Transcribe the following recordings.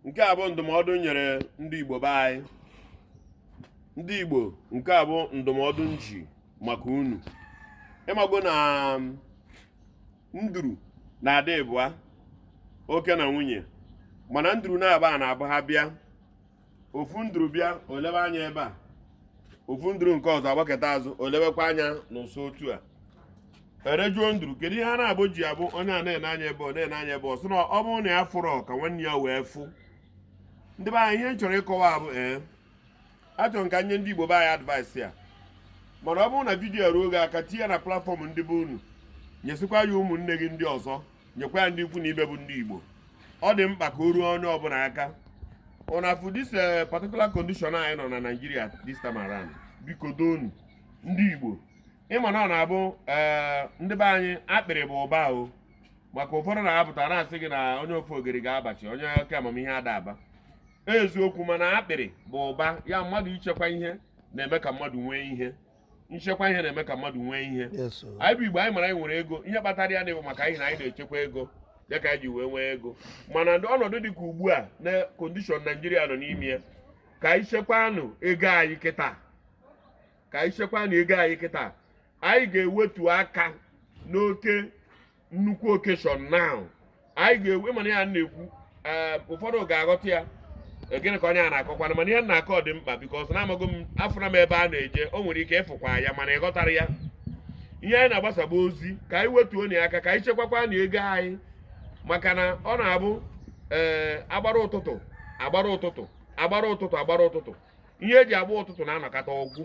nke a bụ ndụmọdụ nyere ndị Igbo be anyị ndị Igbo nke a bụ ndụmọdụ m ji maka unu ị mago na um, nduru na-adị ịbụa oke na nwunye mana nduru na-aba na-abụ ha bịa ofu nduru bịa o lebe anya ebe a ofu nduru nke ọzọ agbaketa azụ o lebekwa anya n'ụsọ otu a e were jụọ nduru kedu ihe a na-abụ ji abụ onye a na-ene anya ebe ọ na-ene anya ebe ọ sị na ọ bụrụ na ya afụrọ ka nwanne ya wee fụ ndị be anyị ihe m chọrọ ịkọwa abụ ee achọrọ m ka m nye ndị Igbo be anyị advice a mana ọ bụrụ na video a ruo gị aka tinye ya na platform ndị be unu nyesikwa ya ụmụnne gị ndị ọzọ nyekwa ya ndị ikwu na ibe bụ ndị Igbo ọ dị mkpa ka o ruo onye ọbụla aka ụnụ afụ this eh, particular condition anyị nọ na Nigeria this time around biko doonụ ndị Igbo ị ma na ọ na-abụ eh, ndị be anyị akpịrị bụ ụba o maka ụfọdụ na-apụta na-asị gị na onye ofogeri ga-abachi onye oke amamihe ada aba eziokwu mana akpịrị bụ ụba ya mmadụ ichekwa ihe na-eme ka mmadụ nwee ihe nchekwa ihe na-eme ka mmadụ nwee ihe anyị bụ igbo anyị mara anyị nwere ego ihe kpatara ya na-abụ maka ihi na anyị na-echekwa ego ya ka anyị ji wee nwee ego mana ọnọdụ dị ka ugbu a na condition Nigeria nọ n'ime ya ka anyị chekwanụ ego anyị kịta ka anyị chekwanụ ego anyị kịta anyị ga-ewetu aka n'oke nnukwu occasion now anyị ga-ewe mana ihe a m na-ekwu eh, ụfọdụ ga-aghọta ya eh, gịnị ka onye a na-akọkwana mana ihe m na-akọ dị mkpa because na amago m afụna m ebe a na-eje o nwere ike ị fụkwa ya mana ị ghọtarọ ya ihe anyị na-agbasa bụ ozi ka anyị wetuonụ aka ka anyị chekwakwanụ ego anyị maka na ọ na-abụ ee eh, agbara ụtụtụ agbara ụtụtụ agbara ụtụtụ agbara ụtụtụ ihe eji agba ụtụtụ na-anọkata ọ gwụ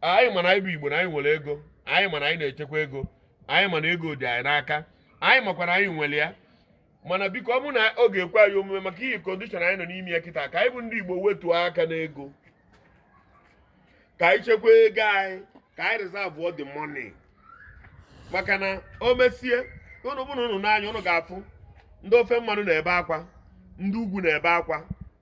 anyị ma na anyị bụ igbo na anyị nwere ego anyị ma na anyị na-echekwa ego anyị ma na ego dị anyị n'aka anyị makwa na anyị nwere ya mana biko ọ bụ na ọ ga-ekwe anyị omume maka ihi condition anyị nọ n'ime ya kịta ka anyị bụ ndị igbo wetuo aka n'ego ka anyị chekwa ego anyị ka anyị reserve the money maka na o mesie ụnụ bụrụ ụnụ n'anya ụnụ ga-afụ ndị ofe mmanụ na-ebe akwa ndị ugwu na-ebe akwa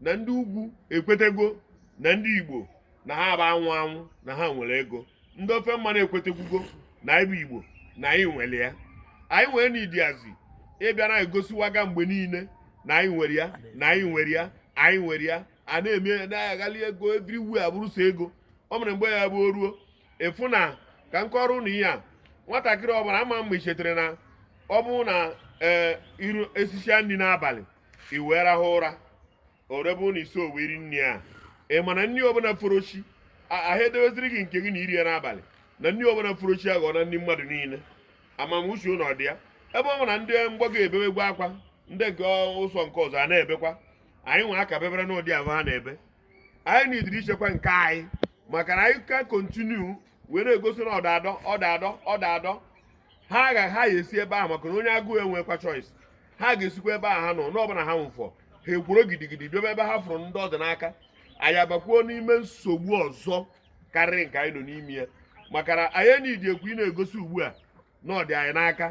na ndị ugwu ekwetego na ndị igbo na ha bụ anwụ anwụ na ha nwere ego ndị ofe mmanụ ekwetekwugo na anyị bụ igbo na anyị nwere ya anyị nwere na ideas ị bịa na-egosiwaga mgbe niile na anyị nwere ya na anyị nwere ya anyị nwere ya a na-eme na-aghali ego everywhere abụrụ sọ ego o mere mgbe ya bụ o ruo ị fụ na ka m kọrọ ụnụ ihe a nwatakịrị ọbụla ama mma ichetere na ọ bụrụ na ee iru esisia nri n'abalị i wee rahụ ụra orebe ụlọ isi owe iri nri a ị ma na nri ọbụla foro chi ahụ edeweziri gị nke gị na iri ya n'abalị na nri ọbụla foro chi aghọna nri mmadụ niile amamuche ụlọ dị ya ebe ọ bụ na ndị mgbago ebewegwo akwa ndị nke ụsọ nke ọzọ a na-ebekwa anyị nwa aka bebere n'ụdị ahụ ha na-ebe anyị nidiri ichekwa nke anyị maka na anyị ka kontinu wee na-egosi na ọda adọ ọda adọ ọda adọ ha ga-esi ebe ahụ maka na onye agụụ enwekwa choice ha ga-esikwa ebe a ha nọ n'ọbụla ha nwụfọ ha ekworo gidigidi bịaba ebe ha fụrụ ndị ọ dị n'aka anyị abakwuo n'ime nsogbu ọzọ karịrị nke anyị nọ n'ime ya maka na anyị enidikwa ị na-egosi ugbu a na ọ dị anyị n'aka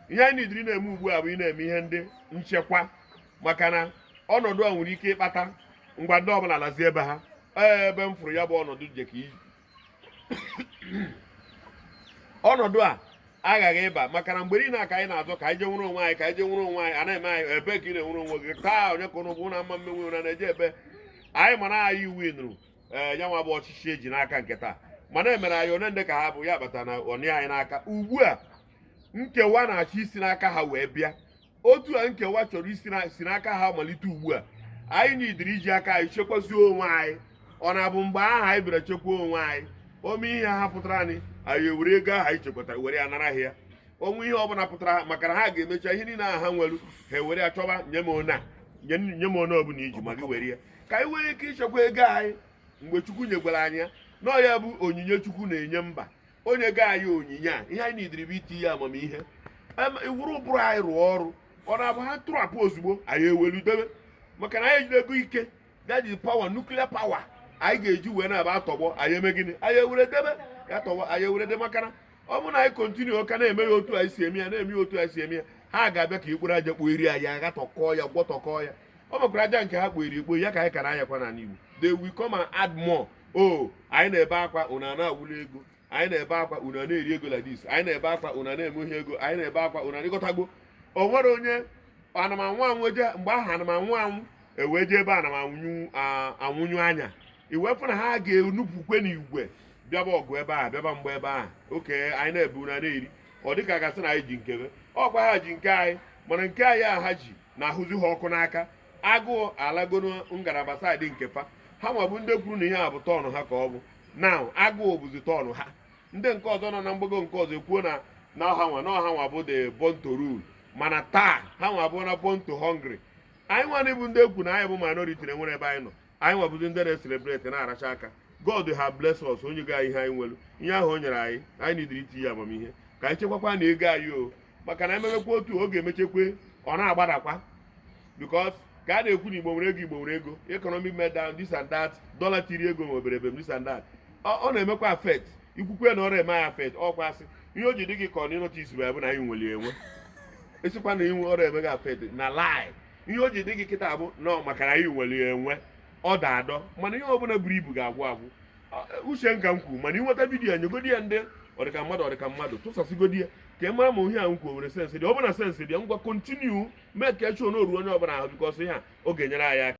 ihe anyị nidiri na-eme ugbu a bụ ị na-eme ihe ndị nchekwa maka na ọnọdụ a nwere ike ịkpata ngwa ndị ọbụla lazie ebe ha ee ebe m fụrụ ya bụ ọnọdụ jeka iji ọnọdụ a aghaghị ịba maka na mgbe niile ka anyị na-azọ ka anyị je nwere onwe anyị ka anyị je nwere onwe anyị anaghị eme anyị ebe ka ị na-enwere onwe gị taa onye ka unu bụ na mma mmenwe ụra na-eje ebe anyị mana anyị iwu ịnụrụ ee eh, ya nwa bụ ọchịchị e ji n'aka nke taa mana e mere anyị one ndị ka ha bụ ya kpata na ọ dị anyị n'aka ugbu a nkewa na-achọ isi n'aka ha wee bịa otu a nkewa chọrọ isi n'aka ha malite ugbu a anyị nidiri iji aka anyị chekwazie onwe anyị ọ na-abụ mgbe ahụ anyị bịara chekwa onwe anyị o mee ihe ha pụtara anyị anyị ewere ego ahụ anyị chekwatara were ya nara ya onwe ihe ọbụla pụtara ha maka na ha ga-emecha ihe niile ahụ ha nwere ha ewere achọba nye m one nye m one ọbụla iji ma gị were ya ka anyị nwere ike ichekwa ego anyị mgbe chukwu nyegwara anyị ya na ọ ya bụ onyinye chukwu na-enye mba o nyego anyị onyinye a ihe anyị nidiri bụ itinye amamihe iwere ụbụrụ anyị rụọ ọrụ ọ na-abụ ha tụrụ apụ ozugbo anyị ewelu debe maka na anyị ejidego ike that is power nuclear power anyị ga-eji wee na-aba atọgbọ anyị eme gịnị anyị ewere debe ya tọgbọ anyị ewere debe maka na ọ bụrụ na anyị kontinu ka na-eme ya otu anyị si eme ya na-eme ya otu anyị si eme ya ha ga-abịa ka e kporo aja kpoyiri anyị aghatọkọọ ya gwọtọkọọ ya ọ makwara aja nke ha kpoyiri ekpoyi ka anyị kara anyakwa n'ala Igbo they will come and add more o anyị na-ebe akwa unu a na-awụli ego anyị na-ebe akwa unu a na-eri ego like this anyị na-ebe akwa unu a na-eme ihe ego anyị na-ebe akwa unu a na-egotagbo o nwere onye ana m anwụ anwụ eje mgbe ahụ ana m anwụ anwụ ewee jee ebe ana m anwụnyụ anya ị wee fụ na ha ga-enupụkwa n'igwe bịaba ọgụ ebe a bịaba mgba ebe a okay anyị na-ebe unu a na-eri ọ dịka a ga-asị na anyị ji nke be ọ kwa ha ji nke anyị mana nke anyị a ha ji na-ahụzi ha ọkụ n'aka agụụ alago na ngalaba side nke fa ha nwa bụ ndị kwuru na ihe a bụ turn ha ka ọ bụ na agụụ bụzi turn ha ndị nke ọzọ nọ na mgbago nke ọzọ ekwuo na na ọ ha nwa na ọ ha nwa bụ the born to rule mana taa ha nwa bụ na born to hungry anyị nwa bụ ndị ekwu na anyị bụ minority na enwere ebe anyị nọ anyị nwa bụzi ndị na-eselebreti na-aracha aka god have bless us o nyego ihe anyị nwere ihe ahụ o nyere anyị anyị nidiri itinye amamihe ka anyị chekwakwa na ego anyị o maka na ememekwa otu oge emechekwe ọ na-agbadakwa because ka a na-ekwu na igbo nwere ego igbo nwere ego economic meltdown this and that dollar tiri ego nwebere ebe this and that ọ na-emekwa affect i kwukwe na ọ rọ eme ya affect ọkwa asị ihe o ji dị gị ka ọ na ịnọta isi bụ na anyị nwere enwe i sikwa na ọ rọ eme gị affect na lie ihe o ji dị gị kịta bụ nọ maka na anyị nwere enwe ọ da adọ mana ihe ọbụla buru ibu ga-agwụ agwụ uche nka m kwuru mana ị nweta video a nyegodi ya ndị ọdịka mmadụ ọdịka mmadụ tụsasịgodi ya ka ị mara ma ihe a m kwuo nwere sense dị ya ọ bụrụ na sense dị ya ngwa continue make sure na o ruo onye ọbụla ahụ because ihe a ọ ga-enyere anyị aka